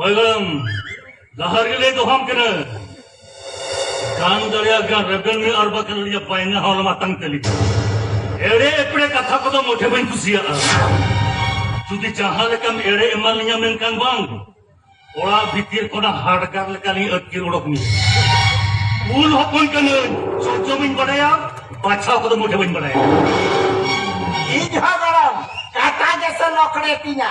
ᱦᱚᱭᱜᱚᱲᱚᱢ ᱞᱟᱦᱟ ᱨᱮᱞᱮ ᱫᱚᱦᱚᱢ ᱠᱟᱱᱟ ᱜᱟᱱ ᱫᱟᱲᱮᱭᱟᱜ ᱜᱟᱱ ᱨᱮᱵᱮᱱ ᱢᱮ ᱟᱨ ᱵᱟᱠᱷᱟᱱ ᱟᱹᱞᱤᱧᱟᱜ ᱯᱟᱭᱱᱟ ᱦᱚᱸ ᱢᱟᱛᱟᱝ ᱛᱟᱹᱞᱤᱧ ᱮᱲᱮ ᱮᱯᱲᱮ ᱠᱟᱛᱷᱟ ᱠᱚᱫᱚ ᱢᱚᱴᱷᱮ ᱵᱟᱹᱧ ᱠᱩᱥᱤᱭᱟᱜᱼᱟ ᱡᱩᱫᱤ ᱡᱟᱦᱟᱸ ᱞᱮᱠᱟᱢ ᱮᱲᱮ ᱮᱢᱟ ᱞᱤᱧᱟ ᱢᱮᱱᱠᱷᱟᱱ ᱵᱟᱝ ᱚᱲᱟᱜ ᱵᱷᱤᱛᱤᱨ ᱠᱷᱚᱱᱟᱜ ᱦᱟᱰᱜᱟᱨ ᱞᱮᱠᱟᱞᱤᱧ ᱟᱹᱛᱠᱤᱨ ᱚᱰᱚᱠ ᱢᱮᱭᱟ ᱩᱞ ᱦᱚᱯᱚᱱ ᱠᱟᱹᱱᱟᱹᱧ ᱪᱚᱪᱚ ᱵᱟᱹᱧ ᱵᱟᱰᱟᱭᱟ ᱵᱟᱪᱷᱟᱣ ᱠᱚᱫᱚ ᱢᱚᱴᱷᱮ ᱵᱟᱹᱧ ᱵᱟᱰᱟᱭᱟ ᱤᱧ ᱦᱚᱸ ᱜᱚᱲᱚᱢ ᱠᱟᱴᱟ ᱜᱮᱥᱮ ᱞᱚᱠᱲᱮ ᱛᱤᱧᱟ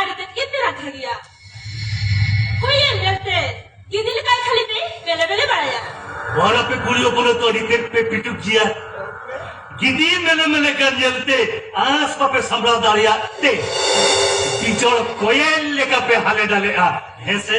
ᱟᱹᱰᱤ ᱛᱮᱫ ᱜᱮ ᱯᱮ ᱨᱟᱠᱷᱟ ᱜᱮᱭᱟ ᱦᱩᱭᱮ ᱧᱮᱞᱛᱮ ᱜᱤᱫᱤ ᱞᱮᱠᱟ ᱠᱷᱟᱹᱞᱤ ᱯᱮ ᱵᱮᱞᱮ ᱵᱮᱞᱮ ᱵᱟᱲᱟᱭᱟ ᱟᱨ ᱟᱯᱮ ᱠᱩᱲᱤ ᱦᱚᱯᱚᱱ ᱫᱚ ᱟᱹᱰᱤ ᱛᱮᱫ ᱯᱮ ᱯᱤᱴᱩᱠ ᱜᱮᱭᱟ ᱜᱤᱫᱤ ᱢᱮᱞᱮ ᱢᱮᱞᱮ ᱠᱟᱱ ᱧᱮᱞᱛᱮ ᱟᱸᱥ ᱵᱟᱯᱮ ᱥᱟᱢᱵᱲᱟᱣ ᱫᱟᱲᱮᱭᱟᱜ ᱛᱮ ᱵᱤᱡᱚᱲ ᱠᱚᱭᱮᱞ ᱞᱮᱠᱟ ᱯᱮ ᱦᱟᱞᱮ ᱰᱟᱞᱮᱜᱼᱟ ᱦᱮᱸᱥᱮ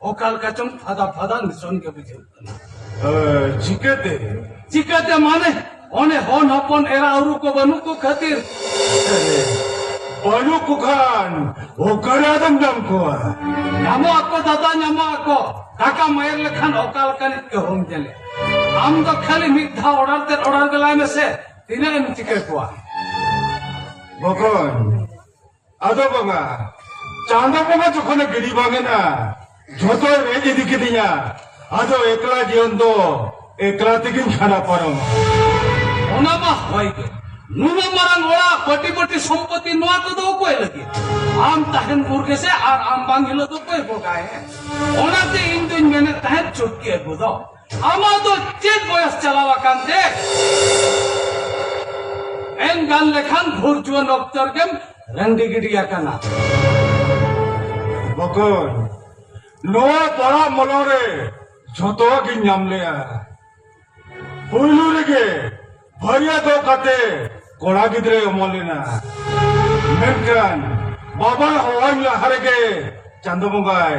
ᱚᱠᱟ ᱞᱮᱠᱟ ᱪᱚᱝ ᱯᱷᱟᱫᱟ ᱯᱷᱟᱫᱟ ᱱᱤᱥᱚᱱ ᱜᱮ ᱵᱩᱡᱷᱟᱹᱜ ᱠᱟᱱᱟ ᱪᱤᱠᱟᱹᱛᱮ ᱪᱤᱠᱟᱹᱛᱮ ᱢᱟᱱᱮ ᱚᱱᱮ ᱦᱚᱱ ᱦᱚᱯᱚᱱ ᱮᱨᱟ ᱩᱨᱩ ᱠᱚ ᱵᱟᱹᱱᱩᱜ ᱠᱚ ᱠᱷᱟᱹᱛᱤᱨ ᱵᱟᱹᱱᱩᱜ ᱠᱚ ᱠᱷᱟᱱ ᱚᱠᱟᱨᱮ ᱟᱫᱚᱢ ᱧᱟᱢ ᱠᱚᱣᱟ ᱧᱟᱢᱚᱜ ᱟᱠᱚ ᱫᱟᱫᱟ ᱧᱟᱢᱚᱜ ᱟᱠᱚ ᱴᱟᱠᱟ ᱢᱟᱭᱮᱨ ᱞᱮᱠᱷᱟᱱ ᱚᱠᱟ ᱞᱮᱠᱟᱱᱤᱡ ᱜᱮ ᱦᱚᱢ ᱧᱮᱞᱮ ᱟᱢ ᱫᱚ ᱠᱷᱟᱹᱞᱤ ᱢᱤᱫ ᱫᱷᱟᱣ ᱚᱰᱟᱨ ᱛᱮ ᱚᱰᱟᱨ ᱜᱮᱞᱟᱭ ᱢᱮᱥᱮ ᱛᱤᱱᱟᱹᱜ ᱮᱢ ᱪᱤᱠᱟᱹ ᱠᱚᱣᱟ ᱵᱚᱠᱚᱧ ᱟᱫᱚ ᱵᱟᱵᱟ ᱪᱟᱸᱫᱚ ᱵᱟᱵᱟ ᱡᱚᱠᱷᱚᱱᱮ ᱜᱤᱰᱤ ᱵᱟᱝ ᱮᱱᱟ ᱡᱷᱚᱛᱚ ᱨᱮᱡ ᱤᱫᱤ ᱠᱤᱫᱤᱧᱟ ᱟᱫᱚ ᱮᱠᱞᱟ ᱡᱤᱭᱚᱱ ᱫᱚ ᱮᱠᱞᱟ ᱛᱮᱜᱤᱧ ᱠᱷᱟᱸᱰᱟ ᱯᱟᱨᱚᱢᱟ ᱚᱱᱟ ᱢᱟ ᱦᱚᱭ ᱜᱮ ᱱᱩᱱᱟᱹ ᱢᱟᱨᱟᱝ ᱚᱲᱟᱜ ᱯᱟᱹᱴᱤ ᱯᱟᱹᱴᱤ ᱥᱚᱢᱯᱚᱛᱤ ᱱᱚᱣᱟ ᱠᱚᱫᱚ ᱚᱠᱚᱭ ᱞᱟᱹᱜᱤᱫ ᱟᱢ ᱛᱟᱦᱮᱱ ᱵᱩᱨ ᱜᱮᱥᱮ ᱟᱨ ᱟᱢ ᱵᱟᱝ ᱦᱤᱞᱳᱜ ᱫᱚ ᱚᱠᱚᱭ ᱵᱚᱜᱟᱭ ᱚᱱᱟᱛᱮ ᱤᱧ ᱫᱩᱧ ᱢᱮᱱᱮᱫ ᱛᱟᱦᱮᱸᱫ ᱪᱩᱴᱠᱤ ᱟᱹᱜᱩ ᱫᱚ ᱟᱢᱟᱜ ᱫᱚ ᱪᱮᱫ ᱵᱚᱭᱚᱥ ᱪᱟᱞᱟᱣ ᱟᱠᱟᱱ ᱛᱮ ᱮᱱ ᱜᱟᱱ ᱞᱮᱠᱷᱟᱱ ᱵᱷᱳᱨ ᱡᱩᱣᱟᱹᱱ ᱚᱠᱛᱚ ᱨᱮᱜᱮᱢ ᱨᱟᱺᱰᱤ ᱜᱤᱰᱤ ᱟᱠᱟᱱᱟ ᱵᱚᱠᱚᱧ ᱱᱚᱣᱟ ᱯᱟᱲᱟ ᱢᱚᱞᱚ ᱨᱮ ᱡᱷᱚᱛᱚ ᱜᱤᱧ ᱧᱟᱢ ᱞᱮᱜᱼᱟ ᱯᱩᱭᱞᱩ ᱨᱮᱜᱮ ᱵᱷᱟᱹᱨᱭᱟᱹ ᱫᱚ ᱠᱟᱛᱮ ᱠᱚᱲᱟ ᱜᱤᱫᱽᱨᱟᱹᱭ ᱚᱢᱚᱱ ᱞᱮᱱᱟ ᱢᱮᱱᱠᱷᱟᱱ ᱵᱟᱵᱟ ᱦᱚᱦᱚᱧ ᱞᱟᱦᱟ ᱨᱮᱜᱮ ᱪᱟᱸᱫᱚ ᱵᱚᱸᱜᱟᱭ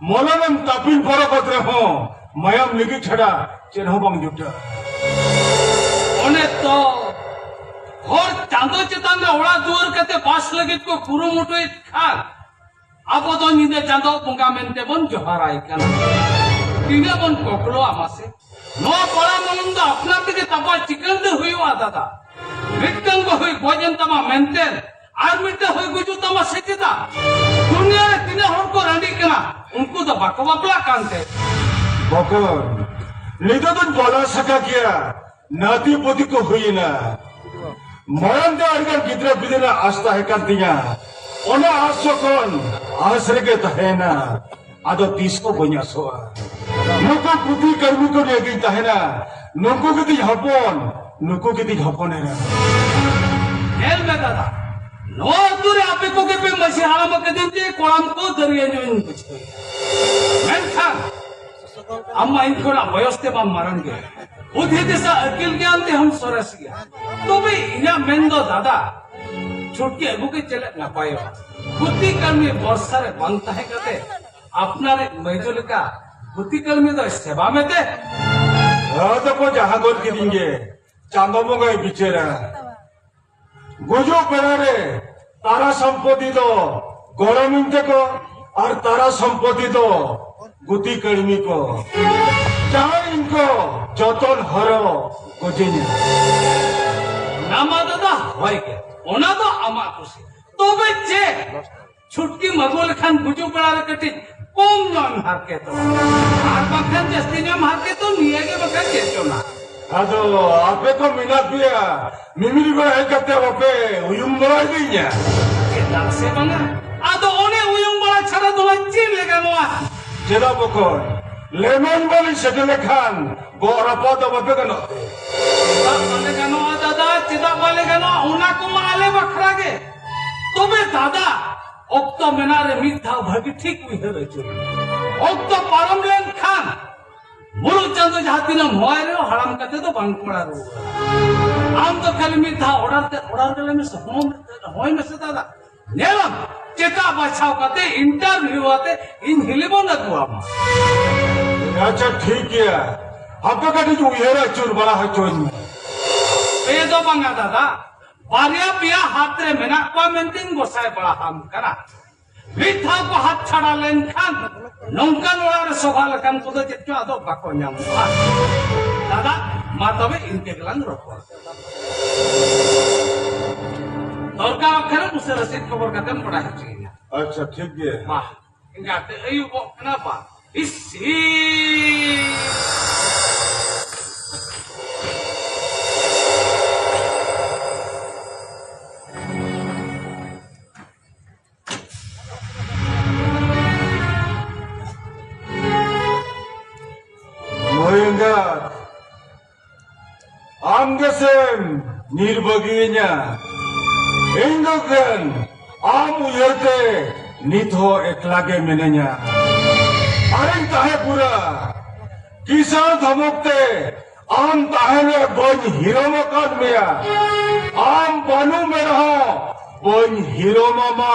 ᱢᱚᱞᱚᱱᱮᱢ ᱛᱟᱯᱤᱞ ᱯᱚᱨᱚᱠᱚᱛ ᱨᱮᱦᱚᱸ ᱢᱟᱭᱟᱢ ᱞᱤᱜᱤ ᱪᱷᱟᱰᱟ ᱪᱮᱫ ᱦᱚᱸ ᱵᱟᱝ ᱡᱩᱴᱟ ᱚᱱᱮ ᱛᱚ ᱦᱚᱲ ᱪᱟᱸᱫᱚ ᱪᱮᱛᱟᱱ ᱨᱮ ᱚᱲᱟᱜ ᱫᱩᱣᱟᱹᱨ ᱠᱟᱛᱮ ᱵᱟᱥ ᱞᱟᱹᱜᱤᱫ ᱠᱚ ᱠᱩᱨᱩᱢᱩᱴᱩᱭᱮᱫ ᱠᱷᱟᱱ ᱟᱵᱚ ᱫᱚ ᱧᱤᱫᱟᱹ ᱪᱟᱸᱫᱚ ᱵᱚᱸᱜᱟ ᱢᱮᱱᱛᱮ ᱵᱚᱱ ᱡᱚᱦᱟᱨᱟᱭ ᱠᱟᱱᱟ ᱛᱤᱱᱟᱹᱜ ᱵᱚᱱ ᱠᱚᱠᱞᱚᱜᱼᱟ ᱢᱟᱥᱮ ᱱᱚᱣᱟ ᱯᱟᱲᱟ ᱢᱚᱞᱚᱝ ᱫᱚ ᱟᱯᱱᱟᱨ ᱛᱮᱜᱮ ᱛᱟᱵᱚᱣᱟᱜ ᱪᱤᱠᱟᱹᱲ ᱫᱚ ᱦᱩᱭᱩᱜᱼᱟ ᱫᱟᱫᱟ ᱢᱤᱫᱴᱟᱝ ᱵᱟᱹᱦᱩᱭ ᱜᱚᱡ ᱮᱱ ᱛᱟᱢᱟ ᱢᱮᱱᱛᱮ ᱟᱨ ᱢᱤᱫᱴᱮᱱ ᱦᱩᱭ ᱜᱩᱡᱩᱜ ᱛᱟᱢᱟ ᱥᱮ ᱪᱮᱫᱟᱜ ᱫᱩᱱᱤᱭᱟᱹ ᱨᱮ ᱛᱤᱱᱟᱹᱜ ᱦᱚᱲ ᱠᱚ ᱨᱟᱺᱰᱤᱜ ᱠᱟᱱᱟ ᱩᱱᱠᱩ ᱫᱚ ᱵᱟᱠᱚ ᱵᱟᱯᱞᱟᱜ ᱠᱟᱱᱛᱮ ᱵᱚᱠᱚᱨ ᱱᱤᱛᱚᱜ ᱫᱚᱧ ᱵᱚᱞᱚ ᱥᱟᱠᱟ ᱜᱮᱭᱟ ᱱᱟᱛᱤ ᱯᱩᱛᱤ ᱠᱚ ᱦᱩᱭᱮᱱᱟ ᱢᱟᱲᱟᱝ ᱫᱚ ᱟᱹᱰᱤᱜᱟᱱ ᱜᱤᱫᱽᱨᱟᱹ ᱯᱤᱫᱽᱨᱟᱹ ᱨᱮᱱᱟᱜ ᱟᱥ ᱛᱟᱦᱮᱸ ᱠᱟᱱ ᱛᱤᱧᱟ ᱚᱱᱟ ᱟᱥ ᱡᱚᱠᱷᱚᱱ ᱟᱥ ᱨᱮᱜᱮ ᱛᱟᱦᱮᱸᱱᱟ ᱟᱫᱚ ᱛᱤᱥ ᱠᱚ ᱵᱟᱹᱧ ᱟᱥᱚᱜᱼᱟ ᱱᱩᱠᱩ ᱯᱩᱛᱷᱤ ᱠᱟᱹᱨᱢᱤ ᱠᱚ ᱱᱤᱭᱟᱹ ᱜᱤᱧ ᱛᱟᱦᱮᱱᱟ ᱱᱩᱠᱩ ᱜᱮᱛᱤᱧ ᱦᱚᱯᱚᱱ ᱱᱩᱠᱩ ᱜᱮᱛᱤᱧ ᱦᱚᱯᱚᱱ ᱮᱨᱟ ᱧᱮᱞ ᱢᱮ ᱫᱟᱫᱟ ᱱᱚᱣᱟ ᱟᱹᱛᱩ ᱨᱮ ᱟᱯᱮ ᱠᱚᱜᱮ ᱯᱮ ᱢᱟᱹᱡᱷᱤ ᱦᱟᱲᱟᱢ ᱟᱠᱟᱫᱤᱧ ᱛᱮ ᱠᱚᱲᱟᱢ ᱠᱚ ᱫᱟᱹᱨᱭᱟᱹ ᱧᱚᱜ ᱤᱧ ᱵᱩᱡᱷᱟᱹᱣ ᱢᱮᱱᱠᱷᱟᱱ ᱟᱢ ᱢᱟ ᱤᱧ ᱠᱷᱚᱱᱟᱜ ᱵᱚᱭᱚᱥ ᱛᱮ ᱵᱟᱢ ᱢᱟᱨᱟᱝ ᱜᱮᱭᱟ ᱵᱩᱫᱷᱤ ᱫᱤᱥᱟᱹ ᱟᱹᱠᱤᱞ ᱜᱮᱭᱟᱱ ᱛᱮᱦᱚᱸᱢ ᱥᱚᱨᱮᱥ ᱜᱮᱭᱟ ᱛᱚᱵᱮ ᱤᱧᱟᱹᱜ ᱢᱮᱱ ᱫᱚ ᱫᱟᱫᱟ ᱪᱷᱩᱴᱤ ᱟᱹᱜᱩ ᱜᱮ ᱪᱮᱫ ᱱᱟᱯᱟᱭᱚᱜᱼᱟ ᱜᱩᱛᱤ ᱠᱟᱹᱢᱤ ᱵᱚᱨᱥᱟ ᱨᱮ ᱵᱟᱝ ᱛᱟᱦᱮᱸ ᱠᱟᱛᱮ ᱟᱯᱱᱟᱨ ᱢᱟᱹᱭᱡᱚ ᱞᱮᱠᱟ ᱜᱩᱛᱤ ᱠᱟᱹᱢᱤ ᱫᱚ ᱥᱮᱵᱟ ᱢᱮᱛᱮ ᱦᱟᱹᱫ ᱠᱚ ᱡᱟᱦᱟᱸ ᱜᱚᱫ ᱠᱤᱫᱤᱧ ᱜᱮ ᱪᱟᱸᱫᱚ ᱵᱚᱸᱜᱟᱭ ᱵᱤᱪᱟᱹᱨᱟ ᱜᱩᱡᱩᱜ ᱵᱮᱲᱟ ᱨᱮ ᱛᱟᱨᱟ ᱥᱚᱢᱯᱚᱛᱤ ᱫᱚ ᱜᱚᱲᱚᱢᱤᱧ ᱛᱮᱠᱚ ᱟᱨ ᱛᱟᱨᱟ ᱥᱚᱢᱯᱚᱛᱤ ᱫᱚ ᱜᱩᱛᱤ ᱠᱟᱹᱲᱢᱤ ᱠᱚ ᱡᱟᱦᱟᱸ ᱤᱧ ᱠᱚ ᱡᱚᱛᱚᱱ ᱦᱚᱨᱚ ᱜᱚᱡᱮᱧᱟ ᱱᱟᱢᱟ ᱫᱟᱫᱟ ᱦᱳᱭ ᱜᱮ ᱚᱱᱟ ᱫᱚ ᱟᱢᱟᱜ ᱠᱩᱥᱤ ᱛᱚᱵᱮ ᱪᱮ ᱪᱷᱩᱴᱠᱤ ᱢᱟᱜᱩ ᱞᱮᱠᱷᱟᱱ ᱜᱩᱡᱩᱜ ᱵᱮᱲᱟ ᱨᱮ ᱠᱟᱹᱴᱤᱡ ᱠᱚᱢ ᱧᱚᱜ ᱦᱟᱨᱠᱮᱛᱚ ᱟᱨ ᱵᱟᱠᱷᱟᱱ ᱡᱟᱹᱥᱛᱤ ᱧᱚᱜ ᱦᱟᱨᱠᱮᱛᱚ ᱱᱤᱭᱟᱹ ᱜᱮ ᱵᱟᱠᱷᱟᱱ ᱪᱮᱫ ᱪᱚᱱᱟ ᱟᱫᱚ ᱟᱯᱮ ᱠᱚ ᱢᱮᱱᱟᱜ ᱯᱮᱭᱟ ᱢᱤᱢᱤᱫ ᱜᱚᱲ ᱦᱮᱡ ᱠᱟᱛᱮ ᱵᱟᱯᱮ ᱩᱭᱩᱝ ᱵᱟᱲᱟ ᱤᱫᱤᱧᱟ ᱪᱮᱫᱟᱜ ᱥᱮ ᱵᱟᱝᱟ ᱟᱫᱚ ᱚᱱᱮ ᱩᱭᱩᱝ ᱵᱟᱲᱟ ᱪᱷᱟᱲᱟ ᱫᱚ ᱪᱮᱫ ᱞᱮ ᱜᱟᱱᱚᱜᱼᱟ ᱪᱮᱫᱟᱜ ᱵᱚᱠᱚᱲ ᱞᱮᱢᱮᱱ ᱵᱟᱹᱞᱤᱧ ᱥᱮᱴᱮᱨ ᱞᱮᱠᱷᱟᱱ ᱜᱚᱜ ᱨᱟᱯᱟᱜ ᱫᱚ ᱵᱟᱯᱮ ᱜᱟᱱᱚᱜ ᱪᱮᱫᱟᱜ ᱵᱟᱞᱮ ᱜᱟᱱᱚᱜᱼᱟ ᱫᱟᱫᱟ ᱪᱮᱫᱟᱜ ᱵᱟᱞᱮ ᱜᱟᱱᱚᱜᱼᱟ ᱚᱱᱟ ᱠᱚᱢᱟ ᱟᱞᱮ ᱵᱟᱠᱷᱨᱟ ᱜᱮ ᱛᱚᱵᱮ ᱫᱟᱫᱟ ᱚᱠᱛᱚ ᱢᱮᱱᱟᱜ ᱨᱮ ᱢᱤᱫ ᱫᱷᱟᱣ ᱵᱷᱟᱹᱜᱤ ᱴᱷᱤᱠ ᱩᱭᱦᱟᱹᱨ ᱟᱹᱪᱩᱨ ᱚᱠᱛᱚ ᱯᱟᱨᱚᱢ ᱞᱮᱱᱠᱷᱟᱱ ᱢᱩᱞᱩᱜ ᱪᱟᱸᱫᱚ ᱡᱟᱦᱟᱸ ᱛᱤᱱᱟᱹᱜ ᱢᱚᱭ ᱨᱮ ᱦᱟᱲᱟᱢ ᱠᱟᱛᱮ ᱫᱚ ᱵᱟᱝ ᱠᱚᱲᱟ ᱨᱩᱣᱟᱹᱲᱟ ᱟᱢ ᱫᱚ ᱠᱷᱟᱹᱞᱤ ᱢᱤᱫ ᱫᱷᱟᱣ ᱚᱰᱟᱨ ᱛᱮ ᱚᱰᱟᱨ ᱜᱮᱞᱮ ᱢᱮ ᱥᱚᱦᱚᱢ ᱦᱚᱭ ᱢᱮᱥᱮ ᱫᱟᱫᱟ ᱧᱮᱞᱟᱢ ᱪᱮᱠᱟ ᱵᱟᱪᱷᱟᱣ ᱠᱟᱛᱮ ᱤᱱᱴᱟᱨᱵᱷᱤᱭᱩ ᱟᱛᱮ ᱤᱧ ᱦᱤᱞᱤᱵᱚᱱ ᱟᱹᱜᱩᱣᱟᱢᱟ ᱟᱪᱪᱷᱟ ᱴᱷᱤᱠ ᱜᱮᱭᱟ ᱟᱯᱮ ᱠᱟᱹᱴᱤᱡ ᱩᱭᱦᱟᱹᱨ ᱟᱹᱪᱩᱨ ᱵᱟᱲᱟ ᱦᱚᱪᱚᱧ ᱢᱮ ᱯᱮ ᱫᱚ ᱵᱟᱝᱟ ᱫᱟᱫᱟ ᱵᱟᱨᱭᱟ ᱯᱮᱭᱟ ᱦᱟᱛ ᱨᱮ ᱢᱮᱱᱟᱜ ᱠᱚᱣᱟ ᱢᱮᱱᱛᱮᱧ ᱜᱚᱥᱟᱭ ᱵᱟᱲᱟ ᱟᱢ ᱠᱟᱱᱟ ᱢᱤᱫ ᱫᱷᱟᱣ ᱠᱚ ᱦᱟᱛ ᱪᱷᱟᱲᱟ ᱞᱮᱱᱠᱷᱟᱱ ᱱᱚᱝᱠᱟᱱ ᱚᱲᱟᱜ ᱨᱮ ᱥᱚᱵᱷᱟ ᱞᱮᱠᱟᱱ ᱠᱚᱫᱚ ᱪᱮᱫ ᱪᱚ ᱟᱫᱚ ᱵᱟᱠᱚ ᱧᱟᱢᱚᱜᱼᱟ ᱫᱟᱫᱟ ᱢᱟ ᱛᱚᱵᱮ ᱤᱱᱠᱟᱹ ᱜᱮᱞᱟᱝ ᱨᱚᱯᱚᱲ ᱫᱚᱨᱠᱟᱨ ᱠᱷᱟᱱ ᱩᱥᱟᱹᱨᱟ ᱥᱮᱫ ᱠᱷᱚᱵᱚᱨ ᱠᱟᱛᱮᱢ ᱵᱟᱲᱟᱭ ᱦᱚᱪᱚᱭᱤᱧᱟ ᱟᱪᱪᱷᱟ ᱴᱷᱤᱠ ᱜᱮᱭᱟ ᱢᱟ ᱤᱱᱠᱟᱛᱮ ᱟᱹᱭᱩᱵᱚᱜ ᱠᱟᱱᱟ ᱵᱟ ᱤᱥᱤ ᱟᱢ ᱜᱮᱥᱮᱢ ᱧᱤᱨ ᱵᱟᱹᱜᱤᱭᱟᱹᱧᱟ ᱤᱧ ᱫᱚ ᱠᱷᱟᱱ ᱟᱢ ᱩᱭᱦᱟᱹᱨ ᱛᱮ ᱱᱤᱛ ᱦᱚᱸ ᱮᱠᱞᱟ ᱜᱮ ᱢᱤᱱᱟᱹᱧᱟ ᱟᱨᱮᱧ ᱛᱟᱦᱮᱸ ᱯᱩᱨᱟ ᱠᱤᱥᱟᱱ ᱫᱷᱚᱢᱚᱠ ᱛᱮ ᱟᱢ ᱛᱟᱦᱮᱱᱮ ᱵᱟᱹᱧ ᱦᱤᱨᱚᱢ ᱟᱠᱟᱫ ᱢᱮᱭᱟ ᱟᱢ ᱵᱟᱹᱱᱩ ᱢᱮ ᱨᱮᱦᱚᱸ ᱵᱟᱹᱧ ᱦᱤᱨᱚᱢ ᱟᱢᱟ